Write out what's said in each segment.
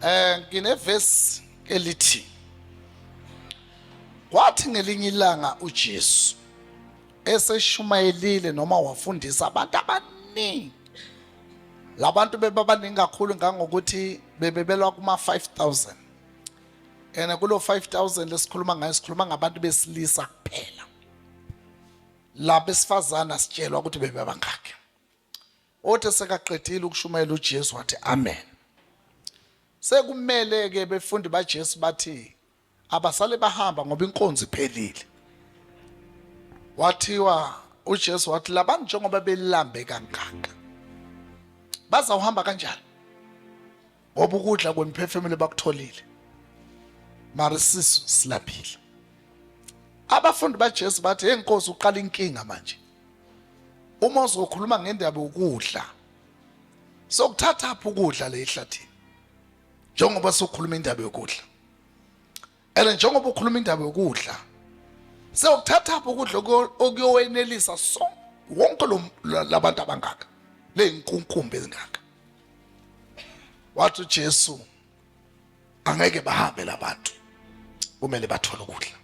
Eh nginevesi elithi Kwathi ngelinye ilanga uJesu eseshumayelile noma wafundisa abantu abaningi labantu bebabaningi kakhulu ngangokuthi bebebelwa kuma 5000 and kulo 5000 lesikhuluma ngayo sikhuluma ngabantu besilisa kuphela laba esifazana sitshelwa ukuthi bebebangaki Othe sekaqedile ukushumayela uJesu wathi amen. Sekumele ke befundi baJesu bathi abasale bahamba ngoba inkonzo iphelile. Wathiwa uJesu wathi labantu njengoba belambe kangaka bazawuhamba kanjani? ngoba ukudla kwemiphefumulo bakutholile mara isisu silambile abafundi baJesu bathi hey Nkosi uqala inkinga manje uma uzokhuluma ngendaba yokudla sokuthatha phi ukudla le ehlathini njengoba sokhuluma indaba yokudla and njengoba ukhuluma indaba yokudla sewuthathaphi ukudla okuyowenelisa so wonke labantu abangaka leyinkunkumba ezingaka wathi uJesu angeke bahambe labantu kumele bathole ukudla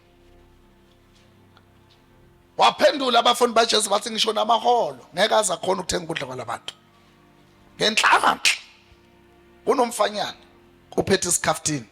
waphendula abafundi baJesu bathi ngisho namaholo ngeke aze akhona ukuthenga ukudla kwalabantu ngenhlanhla kunomfanyana uphethe isikhaftini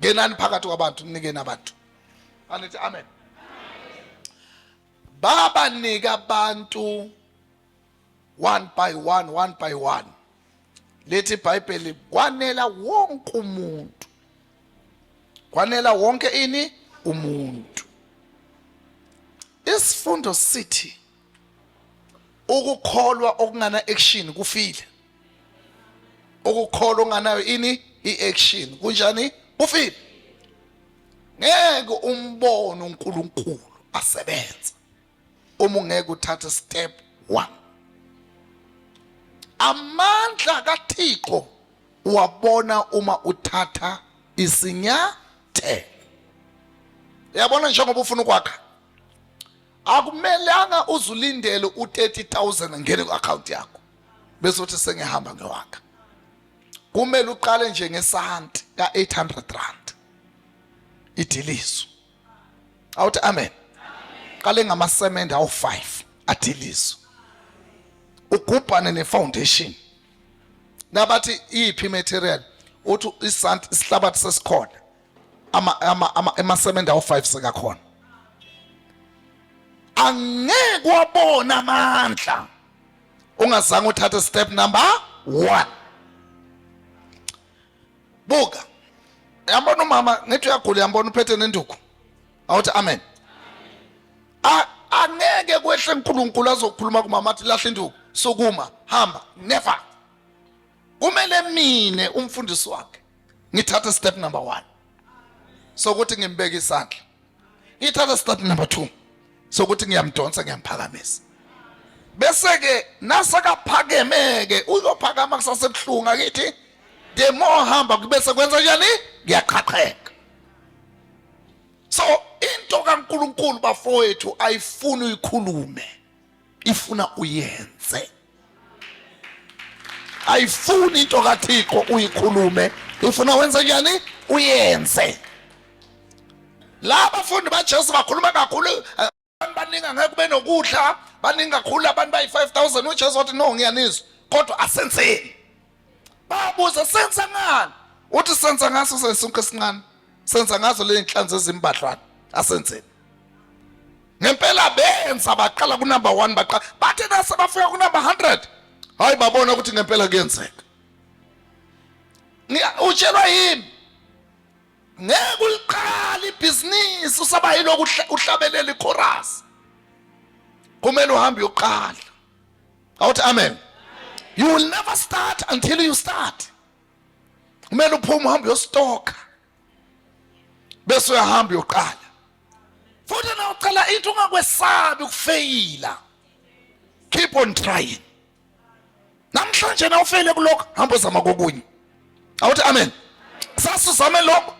ngenani phakathi kwabantu ninikeni abantu anithi amen babanika abantu one by one one by one lithi ibhayibheli kwanela wonke umuntu kwanela wonke ini umuntu isifundo sithi ukukholwa okungana action kufile ukukholwa onganayo ini i-action kunjani kufile ngeke umbone uNkulunkulu asebenza uma ungeke uthathe step 1 amandla kaThixo wabona uma uthatha isinyathelo yabona njengoba ufuna ukwakha akumelanga uzulindele u30000 angene ku account yakho bese uthi sengihamba ngewaka kumele uqale nje ngesanti ka 800 rand idiliso awuthi amen qale ngamasemende awu5 adiliso ugubhane ne foundation nabathi iphi material uthi isanti isihlabathi sesikhona ama ama ama emasemende awu5 sekakhona angeke wabona amandla ungazange uthathe step number 1 buka yambona umama ngithi uyagula yambona uphethe nenduku awuthi amen angeke kwehle uNkulunkulu azokhuluma kumama athi lahle induku sukuma hamba never kumele mine umfundisi wakhe ngithathe step number 1 sokuthi ngimbeke isandla ngithathe step number 2 sokuthi ngiyamdonsa ngiyamphakamisa bese ke nasakaphakemeke uzophakama kusase buhlunga kithi the more hamba kubese kwenza njani ngiyaqhaqheka so into kaNkuluNkulu bafowethu ayifuni uyikhulume ifuna uyenze ayifuni into kathixo uyikhulume ifuna wenze njani uyenze la bafundi bajesu bakhuluma kakhulu eh, abantu baningi angeke kube nokudla baningi kakhulu abantu bayi-five thousand ujesu wathi no ngiyanizwa kodwa asenzeni babuza senza ngani uthi senza ngaso sesunke sincane senza ngazo le nhlanzi ezimbadlwana asenzeni ngempela benza baqala ku number 1 baqala bathe nase bafika ku number 100 hayi babona ukuthi ngempela kuyenzeka utshelwa yini ngeke uliqala ibhizinisi usaba yilokhu uhlabelela ichorus kumele uhambe uyoqala awuthi amen you will never start until you start kumele uphume uhambe uyostoka bese uyahamba uyoqala futhi na ucela into ungakwesabi ukufeyila keep on trying namhlanje na ufeyile kulokho hamba uzama kokunye awuthi amen sase uzame lokho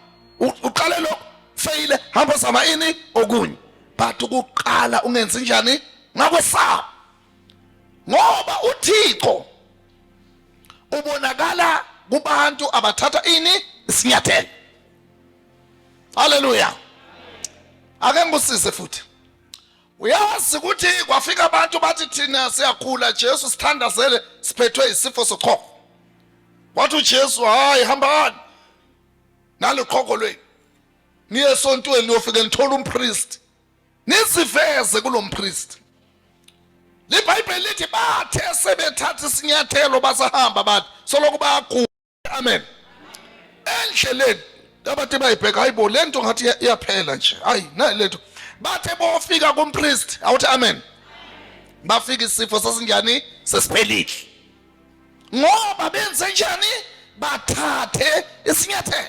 uqale lokho feyile hamba zama ini okunye but ukuqala ungenzi njani ngakwesaba ngoba uThixo ubonakala kubantu abathatha ini isinyathelo haleluya ake ngikusize futhi uyazi ukuthi kwafika abantu bathi thina siyakhula Jesu sithandazele siphethwe isifo sochoko wathi uJesu hayi hambani naliqhoko lweni niye esontweni niyofike nithola umpriest niziveze kulo mpriest libhayibheli lithi bathe sebethatha isinyathelo basahamba bathi soloko bayaguqa amen endleleni abati bayibheka hayibo le nto ngathi iyaphela nje hayi nayi le nto bathe bofika kumpriest awuthi amen bafika isifo sasinjani sesiphelile ngoba benze njani bathathe isinyathelo